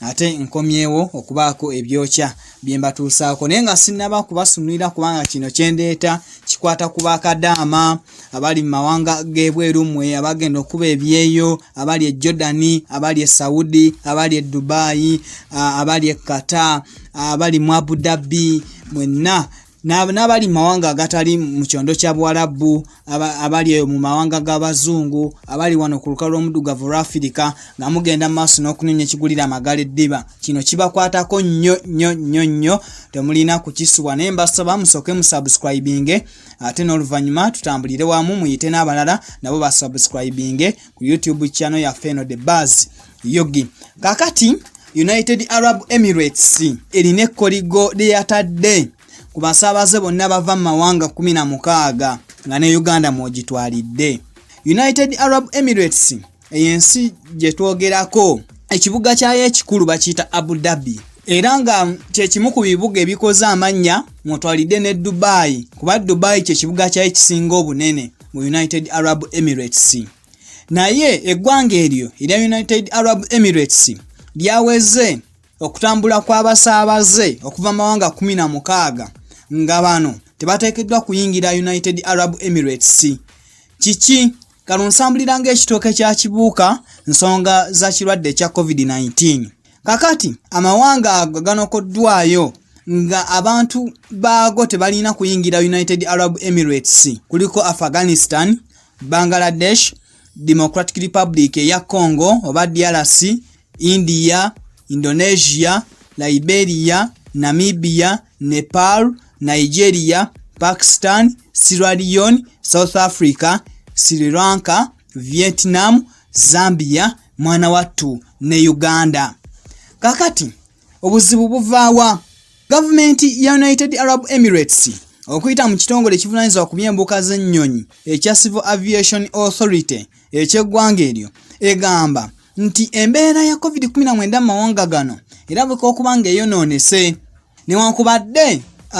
ate nkomyewo okubaako ebyokya bye mbatuusaako naye nga sinnaba kubasunulira kubanga kino kyendeeta kikwata ku bakadaama abali mu mawanga g'ebweru mmwe abagenda okuba ebyeyo abali e jordani abali e saudi abali e dubayi abali e qatar abali mu abudabi mwenna n'abali mu mawanga agatali mu kyondo kya buwalabbu abali eyo mu mawanga g'abazungu abali wano ku lukalu lw'omuddugavu olwafirika nga mugenda mu maaso n'okunoonya ekigulira amagala eddiba kino kibakwatako nnyo nnyo nnyo nnyo temulina kukisubwa naye mbasaba musooke musubscribinge ate n'oluvannyuma tutambulire wamu muyite n'abalala nabo basubscribinge ku youtube channel yaffe eno the buzz yogi kakati united arab emirates erina ekkoligo lyeyatadde ku basaabaze bonna bava mu mawanga 16 nga ne uganda mwogitwalidde united arab emirates eyo ensi gye twogerako ekibuga kyayo ekikulu bakiyita abu dhabi era nga kyekimu ku bibuga ebikoze amannya mwotwalidde ne dubai kuba dubai kyekibuga kyayo ekisinga obunene mu united arab emirates naye eggwanga eryo erya united arab emirates lyaweze okutambula kw'abasaabaze okuva mu mawanga 16 nga bano tebateekeddwa kuyingira united arab emirates kiki kano nsambulira ng'ekitooke kya kibuuka nsonga za kirwadde ekya covid-19 kakati amawanga ago ganokoddwayo nga abantu baago tebalina kuyingira united arab emirates kuliko afghanistan Bangladesh, Democratic Republic eya Congo oba DRC, India, Indonesia, Liberia, Namibia, Nepal, Nigeria, Pakistan, Sierra Leone, South Africa, Sri Lanka, Vietnam, Zambia, mwana wattu ne Uganda. Kakati Obuzibu buvaawa gavumenti ya United Arab Emirates okuyita mu kitongole ekivunanyizibwa ku by'embuka z'ennyonyi ekya Civil Aviation Authority eky'eggwanga eryo egamba nti embeera ya COVID-19 mu mawanga gano erabika okuba ng'eyonoonese newankubadde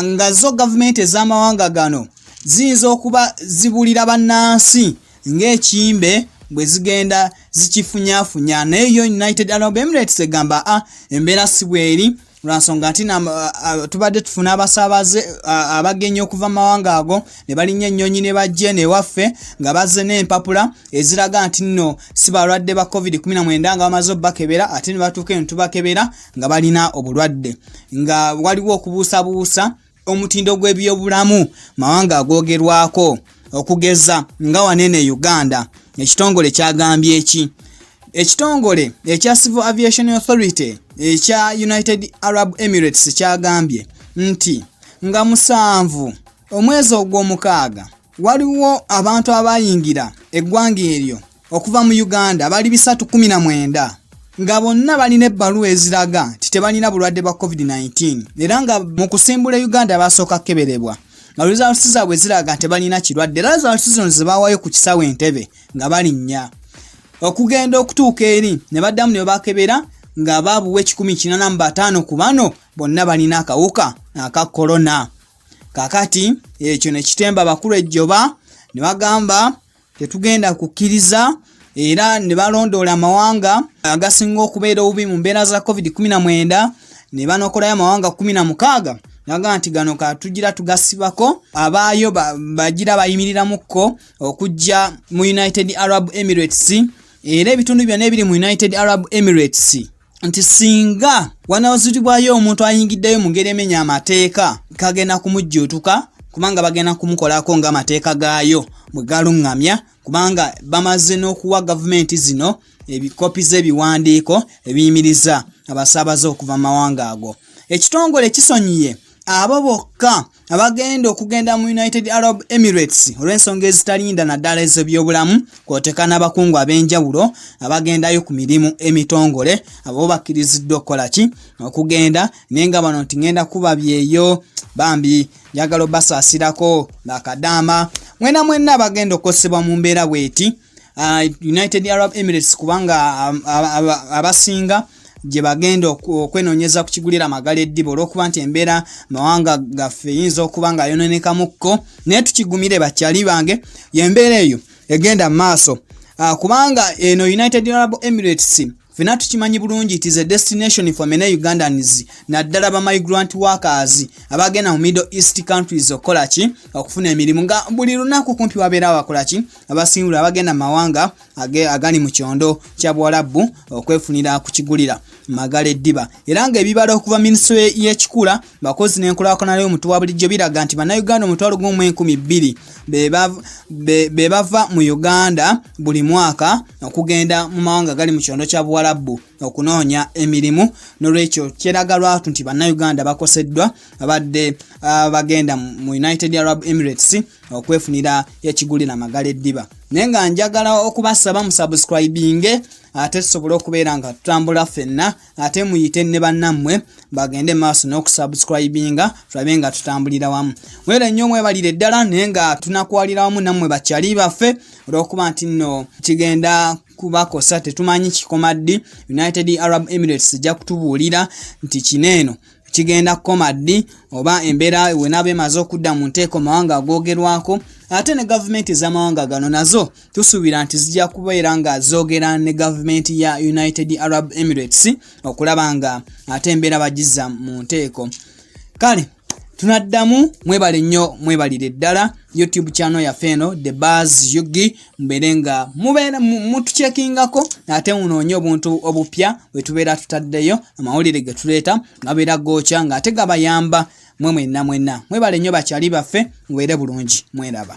nga zo gavumenti ez'amawanga gano ziyinza okuba zibulira bannansi ng'ekimbe bwe zigenda zikifunyafunya naye yo united arab emirates egamba a ah, embeera si bweri lwansonga nti ah, ah, tubadde tufuna abasaabaze abagenyi okuva mu mawanga ago ne balinnya ennyonyi ne bajje newaffe nga bazze n'empapula eziraga nti nno si balwadde ba covid-19 nga bamaze obubakebera ate ne batuuka eno tubakebera nga balina obulwadde nga waliwo okubuusabuusa omutindo gw'ebyobulamu mawanga agoogerwako okugeza nga wanene uganda ekitongole kyagambye eki ekitongole ekya civil aviation authority ekya united arab emirates kyagambye nti nga musanvu omwezi ogw'omukaaga waliwo abantu abayingira eggwanga eryo okuva mu Uganda bali bisatu kumi na mwenda nga bonna balina ebbaluwa eziraga nti tebalina bulwadde bwa covid-19 era nga mu kusimbula e uganda basooka kukeberebwa nga results zaabwe ziraga nti balina kirwadde era results zino zebaawayo ku kisawo entebe nga balinnya okugenda okutuuka eri ne baddamu ne babakebera nga baabuwa ekikumi kinana mu bataano ku bano bonna balina akawuka aka korona kakati ekyo ne kitemba abakulu ejjoba ne bagamba tetugenda kukkiriza era ne balondoola amawanga agasinga okubeera obubi mu mbeera za covid-19 ne banokolayo amawanga 16 naga nti gano katugira tugasibako abaayo bagira bayimirirako okujja mu united arab emirates era ebitundu byonna ebiri mu united arab emirates nti singa wanawaziribwayo omuntu ayingiddeyo mu ngeri emenya amateeka kagenda kumujjuutuka kubanga bagenda kumukolako ng'amateeka gaayo bwe galuŋŋamya kubanga bamaze n'okuwa gavumenti zino ebikopi z'ebiwandiiko ebiyimiriza abasaabaze okuva mu mawanga ago ekitongole kisonyiye abo bokka abagenda okugenda mu united arab emirates olw'ensonga ezitalinda naddala ez'ebyobulamu kwoteka n'abakungu ab'enjawulo abagendayo ku mirimu emitongole abo bakkiriziddwa okukola ki okugenda naye nga bano nti ngenda kuba byeyo bambi njagala obasaasirako ng'akadaama mwena mwenna abagenda okukosebwa mu mbeera bweti uh, united arab emirates kubanga um, abasinga um, gye bagenda okwenonyeza ku kigulira amagala eddiba olwokuba nti embeera mawanga gaffe eyinza okuba nga ayononekamukko naye tukigumire bakyali bange yembeera eyo egenda mu maaso uh, kubanga eno united arab emirates fena tukimanyi bulungi it is a destination for many ugandans naddala ba migrant workers abagenda mu middle east countries okukola ki okufuna emirimu nga buli lunaku kumpi wabeera abakola ki abasingula abagenda mu mawanga agali mu kyondo kya buwalabbu okwefunira ku kigulira magala eddiba era ng'ebibala okuva minisitule y'ekikula bakozi n'enkulaakulana y'omuntu wa bulijjo biraga nti bannayuganda omutwalo gumu mu enkumi bbiri be bava mu uganda buli mwaka okugenda mu mawanga gali mu kyondo kya buwalabbu okunoonya emirimu nolwekyo kyeraga lwatu nti bannayuganda bakoseddwa abadde ah, bagenda mu united arab emirates okwefunira ekigulira magala eddiba naye nga njagala okubasaba musubscribinge ate tusobole okubeera nga tutambula ffenna ate muyite ne bannammwe bagende maaso n'okusubscribinga tulabe nga tutambulira wamu mwera nnyo mwebalire ddala naye nga tunakwalira wamu nammwe bakyali baffe olw'okuba nti nno kigenda kubakosa tetumanyi kikoma ddi united arab emirates ejja kutubuulira nti kino eno kigenda kukoma ddi oba embeera wenaaba emaze okudda mu nteeko mawanga agoogerwako ate ne gavumenti ez'amawanga gano nazo tusuubira nti zijja kubeera nga zoogera ne gavumenti ya united arab emirates okulaba nga ate embeera bagizza mu nteeko kale tunaddamu mwebale nnyo mwebalire ddala youtube channel yaffe eno the bars yugi mbeere nga mubeera mutukyekingako ate munoonye obuntu obupya bwe tubeera tutaddeyo amawulire ge tuleeta gabeera gookya ng'ate gabayamba mwe mwenna mwenna mwebale nnyo bakyali baffe mubeere bulungi mweraba